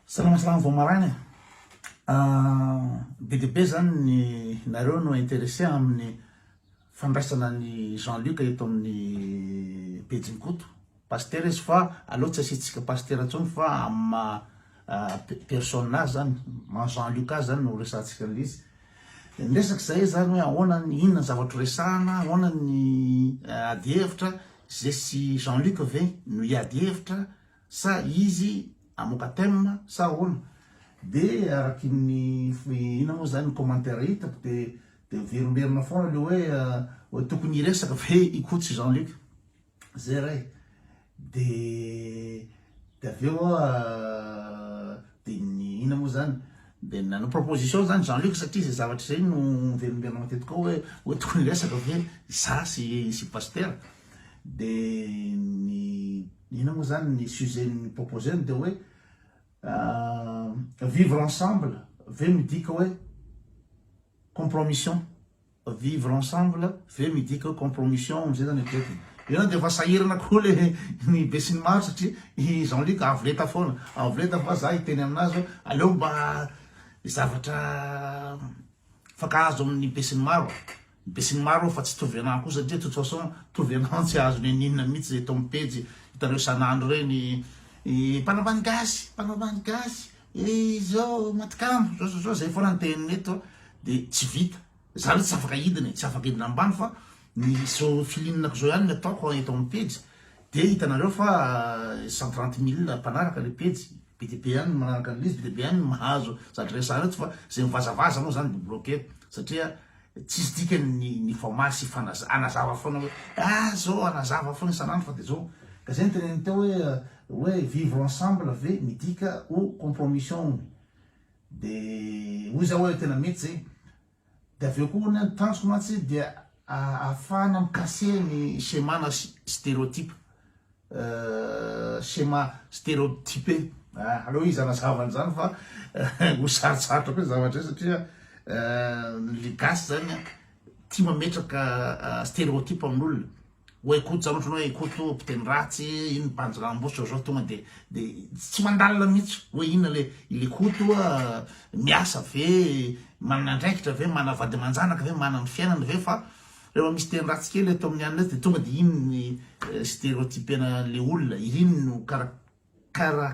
Salama salama vao maraina e! be dia be zany ny nareo no interesse amin'ny fandraisana an'i Jean Luc eto amin'ny pejin'i Koto Pasitera izy fa aleo tsy asiantsika Pasitera intsony fa amin'ny maha personne azy zany, maha Jean Luc azy zany no resahantsika an'ilay izy. Dia ny resaka izay zany hoe ahoana ny, inona ny zavatra horesahana, ahoana ny adihevitra, ze sy Jean Luc ve no hiady hevitra, sa izy hamoaka thème sa ahoana? de araky ny inona moa zany ny commentaire hitako de de verimberina foana le hoe hoe tokony hiresaka ve i Coach Jean Luc zay re de de avy eo aho de ny inona moa zany de nanao proposition zany Jean Luc satria zay zavatra zay no verimberina matetika ao hoe hoe tokony hiresaka ve za sy sy pasitera De ny inona moa zany ny sujet ny proposer ny de hoe vivre ensemble ve midika hoe compromission vivre ensemble ve midika hoe compromission amzay zany eritreretiny eo zany de efa sahirana koa le ny besinimaro satria i jean luc avo lenta foana avo lenta fa za hiteny aminazy hoe aleo mba zavatra mifankahazo aminy besinimaro Besinimaro aho fa tsy tovy anah koa satria de toute façon tovy anah tsy azo niniana mitsy zay tao am pejy hitanareo isanandro reny mpanao ambany gasy mpanao ambany gasy izao matikamba zao zao zao zay foana ny tenin'ny eto de tsy vita za le tsy afaka hidina e tsy afaka hidina ambany fa ny zao filininako zao ihany ny ataoko eto am pejy de hitanareo fa cent trente mille mpanaraka le pejy be de be ihany ny manaraka anle izy be de be ihany ny mahazo zatra resahanao eto fa zay mivazavaza moa zany de bloquer satria Tsisy dikany ny ny famaly sy fanaza, anazava foana hoe ah zao anazava foana isan'andro fa de zao ka zay ny teneniny teo hoe hoe vivre ensemble ve midika ho compromission hono de hoy za hoe tena mety zay de avy eo koa hono ny tanjoko mantsy dia ahafahana mi-casser ny schéma na stereotype. schéma stéréotypé aleo izy hanazava an'izany fa ho sarotsarotra koa zavatra satria le gasy zany tia mametraka stéréotype amin'olona hoe koto zany ohatrany hoe koto mpiteny ratsy iny banjy rambositra zao tonga de de tsy mandalina mihitsy hoe inona le le koto miasa ve manana andraikitra ve manana vady aman-janaka ve manana ny fiainana ve fa Rehefa misy teny ratsy kely atao amin'ny anona dia tonga dia iny ny stereotypena an'ilay olona, iny no kara kara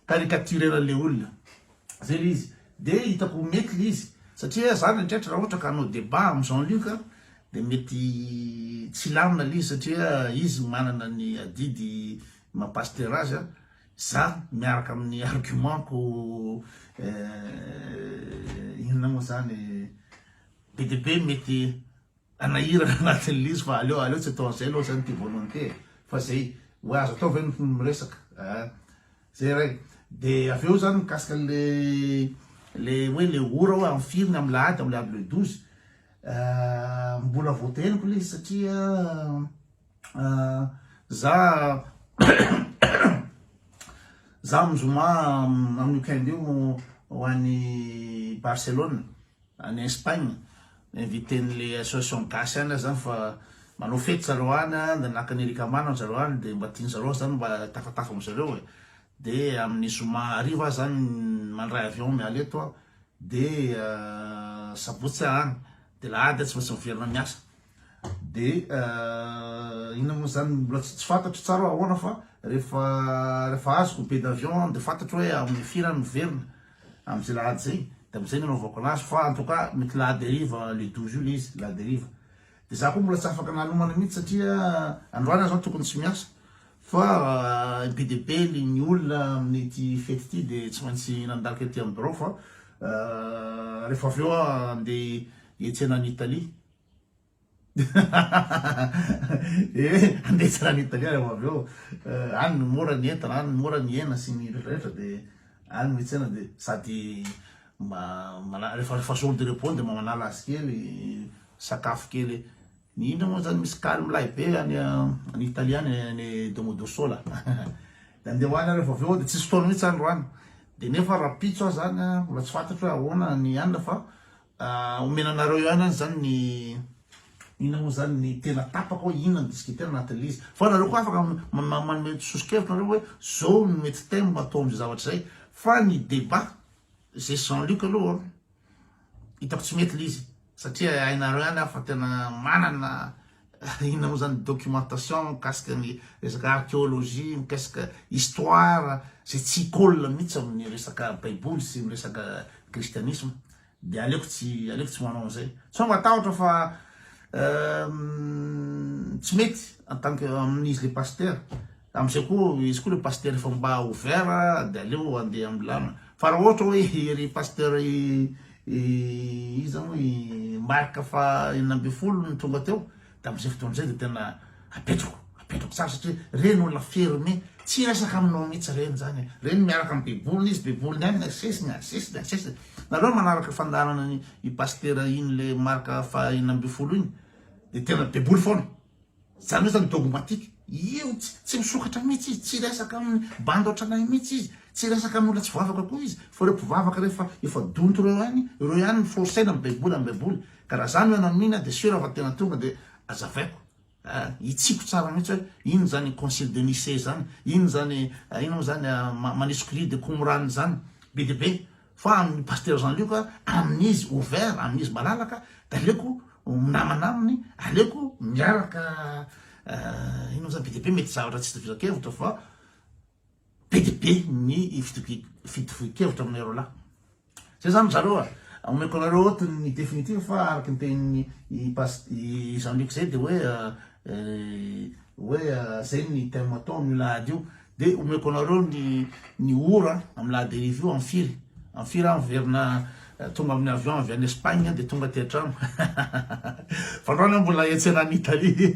caricaturer-na an'ilay olona. Izay ilay izy. Dia hitako ho mety ilay izy. Satria izaho indraindray raha ohatra ka hanao débat amin'i Jean Luc dia mety tsy hilamina ilay izy satria izy manana ny adidy maha-pasitera azy. Za miaraka amin'ny argument ko eh, inona moa zany be de be mety anahirana anatin'ny lizy fa aleo aleo tsy atao an'izay aloha zany ty volonté e. fa zay hoe azo atao ve ny miresaka eh, zay ray de avy eo zany mikasika le le hoe le ora hoe amin'ny firy ny amin'ny lahady amin'ny lahady le douze eh, mbola voateheniko le izy satria Za za amin'ny zoma amin'ny week-end io ho any Barcelone any Espagne inviten'le association gasy any zany fa manao fety zareo any de naka ny Eric Amano ry zareo any de mba tian'ny zareo aho zany mba hitafatafa amin-dry zareo e de amin'ny zoma hariva aho zany mandray avion miala eto aho de sabotsy aho any de lahady aho tsy maintsy miverina miasa. Dia inona moa izany mbola tsy fantatro tsara hoe ahoana fa rehefa rehefa azoko billet d'avion dia fantatro hoe amin'ny firy aho miverina amin'izay lahady izay dia amin'izay no anaovako anazy fa en tout cas mety la dérive le 12 io le izy la dérive dia za koa mbola tsy afaka nanomana mihitsy satria androany aho zao tokony tsy miasa fa be dia be le ny olona amin'ity fety ity dia tsy maintsy nandalika ety amin'ny birao fa rehefa avy eo aho andeha hiantsena any Italie ee andeha tsara any Italia reo avy eo any no mora ny entana any no mora ny hena sy ny rehetra rehetra de any mitsena de sady mba mana refa refa jour de repos de mba manala azy kely sakafo kely ny indro moa zany misy kaly milay be any any Italia any any Domodossola de andeha ho any reo fa avy eo de tsisy fotoana mitsy any ro any de nefa rahampitso aho zany mbola tsy fantatro hoe ahoana ny any fa Ah omena anareo ihany any zany ny inona mo zany ny tena tapaka oe inona ny disque tena anatin le izy fa nareo ko afaka manome sosokevitra nareo oe zao no mety thème atao amzay zavatra zay fa ny debat ze jean luc aloha hitako tsy mety le izy satria hainareo ihany aho fa tena manana Inona moa izany documentation mikasika ny resaka archéologie, mikasika histoire izay tsy colle mihitsy amin'ny resaka baiboly sy ny resaka kristianisma dia aleoko tsy aleoko tsy manao an'izay. Sao matahotra fa tsy mety en tant que amin'izy le pasteur Amin'izay koa izy koa le pasteur efa mba ouvert dia aleo andeha ambilana. Fa raha ohatra hoe ry pasteur iza moa i Marc faha enina ambin'ny folo no tonga teo dia amin'izay fotoana izay dia tena apetrako, apetrako tsara satria ireny olona fermé, tsy hiresaka aminao mihitsy ireny izany e. Ireny miaraka amin'ny baiboliny izy, baiboliny ihany no asesiny, asesiny, asesiny. Nareo manaraka fandaharana an'iny pasteur iny le Marc faha enina ambin'ny folo iny dia tena baiboly foana. Izany hoe zany dogmatique. Io tsy misokatra mihitsy izy, tsy resaka amin'ny bandy ohatranay mihitsy izy, tsy resaka amin'ny olona tsy vavaka koa izy, fa ireo mpivavaka rehefa efa donto ireo ihany, ireo ihany no forcer-na amin'ny baiboly, amin'ny baiboly. Ka raha za no ianao mino aho dia sûr aho fa tena tonga dia azavaiko, hitsiko tsara mihitsy hoe inona izany concile de Nicée izany, inona izany inona moa izany manisokilidy Qumran izany, be dia be. Fa amin'i Pasteur Jean Luc, amin'izy ouvert, amin'izy malalaka, dia aleoko minamana aminy, aleoko miaraka ino moa zany, be dia be mety zavatra tsy itovisan-kevitra fa be dia be ny fitovian-kevitra aminay roa lahy. Zay zany ry zareo a! Omeko anareo eto ny définitive fa araka ny tenin'i Jean Luc zay dia hoe hoe zay ny thème ataony io lahady io, Dia omeko anareo ny ny ora amin'ny la derive io amin'ny firy amin'ny firy aho miverina tonga amin'ny avion avy any Espagne dia tonga aty an-trano fa androany aho mbola hiantsena any Italie